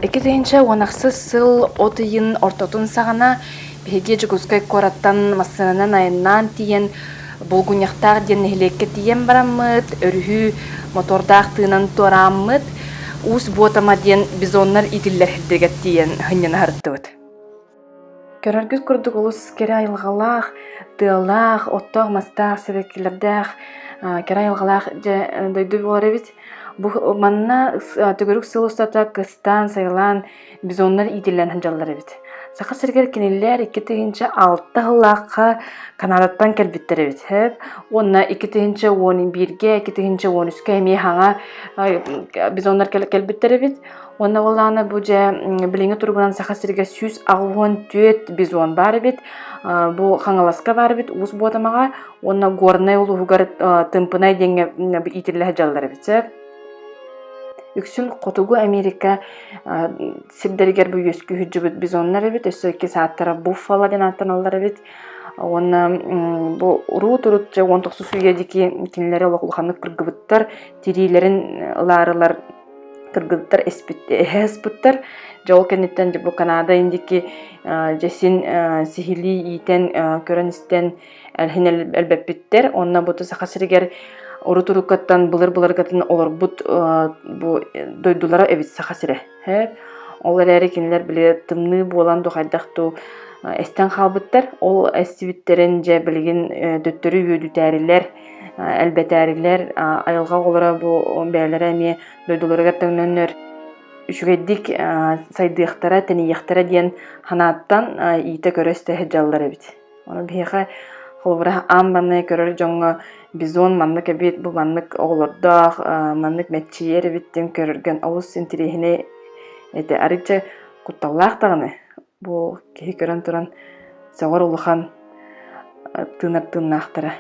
Икки тыһыынча уон ахсыс сыл от ыйын ортотун саҕана биһиги Дьокуускай куораттан массыынанан айаннаан тиийэн Булгуньахтаах диэн нэһилиэккэ тиийэн бараммыт, өрүһү мотуордаах тыынан туорааммыт, Уус Буотама диэн бизоннар иитиллэр сирдэригэр тиийэн сынньана сырыттыбыт. Көрөргүт курдук олус кэрэ айылҕалаах, тыалаах, оттоох-мастаах, сибэккилэрдээх, кэрэ айылҕалаах дьэ дойду буолар эбит. Бу манна төгүрүк сыл устата кыстаан-сайылаан бизоннар иитиллэн сылдьаллар эбит. Саха сиригэр кинилэр икки тыһыынча алта сыллаахха Канаадаттан кэлбиттэр эбит сөп. Уонна икки тыһыынча уон бииргэ, икки тыһыынча уон үскэ эмиэ хаҥа бизоннар кэлбиттэр эбит. Уонна ол даҕаны бу дьэ билиҥҥи туругунан Саха сиргэ сүүс аҕыһыан түөрт бизон баар эбит. Бу Хаҥаласка баар эбит Уус Буотамаҕа уонна Горнай улууһугар Тымпынай диэҥҥэ иитиллэһэ дьаллар эбит. Үксүн Хотугу Америка сирдэригэр бу үөскүүһүддьүбүт бизоннар эбит. Өссө икки сааттара буффало диэн ааттаналлар эбит. Уонна бу урут-урутча уон тохсус үйэ диэки кинилэри олох улаханнык кыргыбыттар, тириилэрин ылаарылар кыргыттар эһэ аспыттар дьэ ол кэнниттэн бу Канада индики дьэсин сиһилии иитэн көрөн-истэн элһин элбэппиттэр онно бу саха сиригэр урут-уруккаттан былыр-былыргатын олорбут бу дойдулара эбит саха сирэ ол эрээри кинилэр били тымныы буолан духайдах дуу эстэн хаалбыттар ол эстибиттэрин дьэ билигин төттөрү үөдүтээрилэр Элбэтээрилэр айылҕа оҕолоро бу бэйэлэрэ эмиэ дойдуларыгар төннөннөр үчүгэйдик сайдыахтара, тэнийиэхтэрэ диэн санааттан иитэ-көрө истэ сылдьаллар эбит. Ону биһиэхэ холобура аан маҥнай көрөр дьоҥҥо бизон маннык эбит, бу маннык оҕолордоох, маннык мэччийэр эбиттин көрөргөн олус интириэһинэй этэ. Арыычча кутталлаах даҕаны Бу киһи көрөн туран сөҕөр улахан тыынар тыыннаахтара.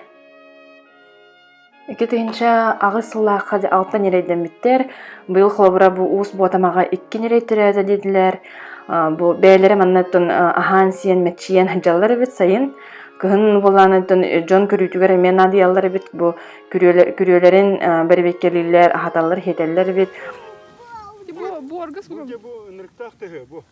Иккитинче аҕыс сыллаахха алтан ньирэйдэммиттэр. Быйыл холобура бу уус буотамаҕа икки ньирэй төрөөтө диэтилэр. Бу бэйэлэрэ маннаттан аһаан-сиэн, мэччийэн сылдьаллар эбит сайын. Кыһын буолааныттан дьон көрүүтүгэр эмиэ наадыйаллар эбит. Бу күрүөлэрин бэрэбиэркэлииллэр, аһаталлар, иһитэллэр эбит. Бу буорга сурум. Бу ынырыктаах тыһы бу.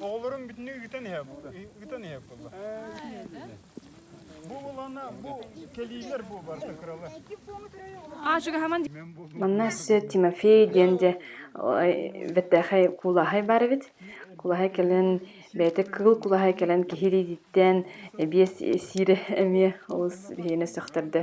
Оҕолорун бүтүннүү ыытан иһэ ыытан иһэ буолла. Бу болана бу кэлиилэр бу барта кыралар. Манна сэ Тимофей диэн де бэттээхэй кулааһай бар эбит. Кулааһай кэлэн бэйэтэ кыгыл кулааһай кэлэн киһириититтэн эбиэс сиирэ эмиэ олус биһиэнэ сөхтөрдө.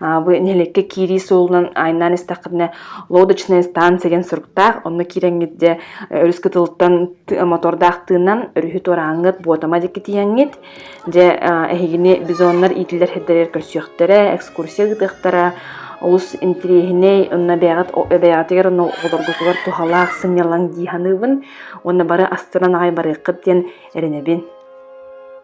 Вы нэлекке киирии суолунан айнаан истэххитинэ лодочная станция деген суруктаах онно киирэҥҥитде өрүс кытылыттан мотордаах тыынан өрүһү турааҥҥыт буотама дикки тииэҥҥит дьэ эһигини бизоннар иитиллэр хеддерер көрсүөхтэрэ экскурсия гытыахтара олус интириэһинэй онно бэйэҕитигэр онно олоргутугар туһалаах сынньалаҥ дии саныыбын уонна бары астынан аҕай барыаххыт диэн эрэнэбин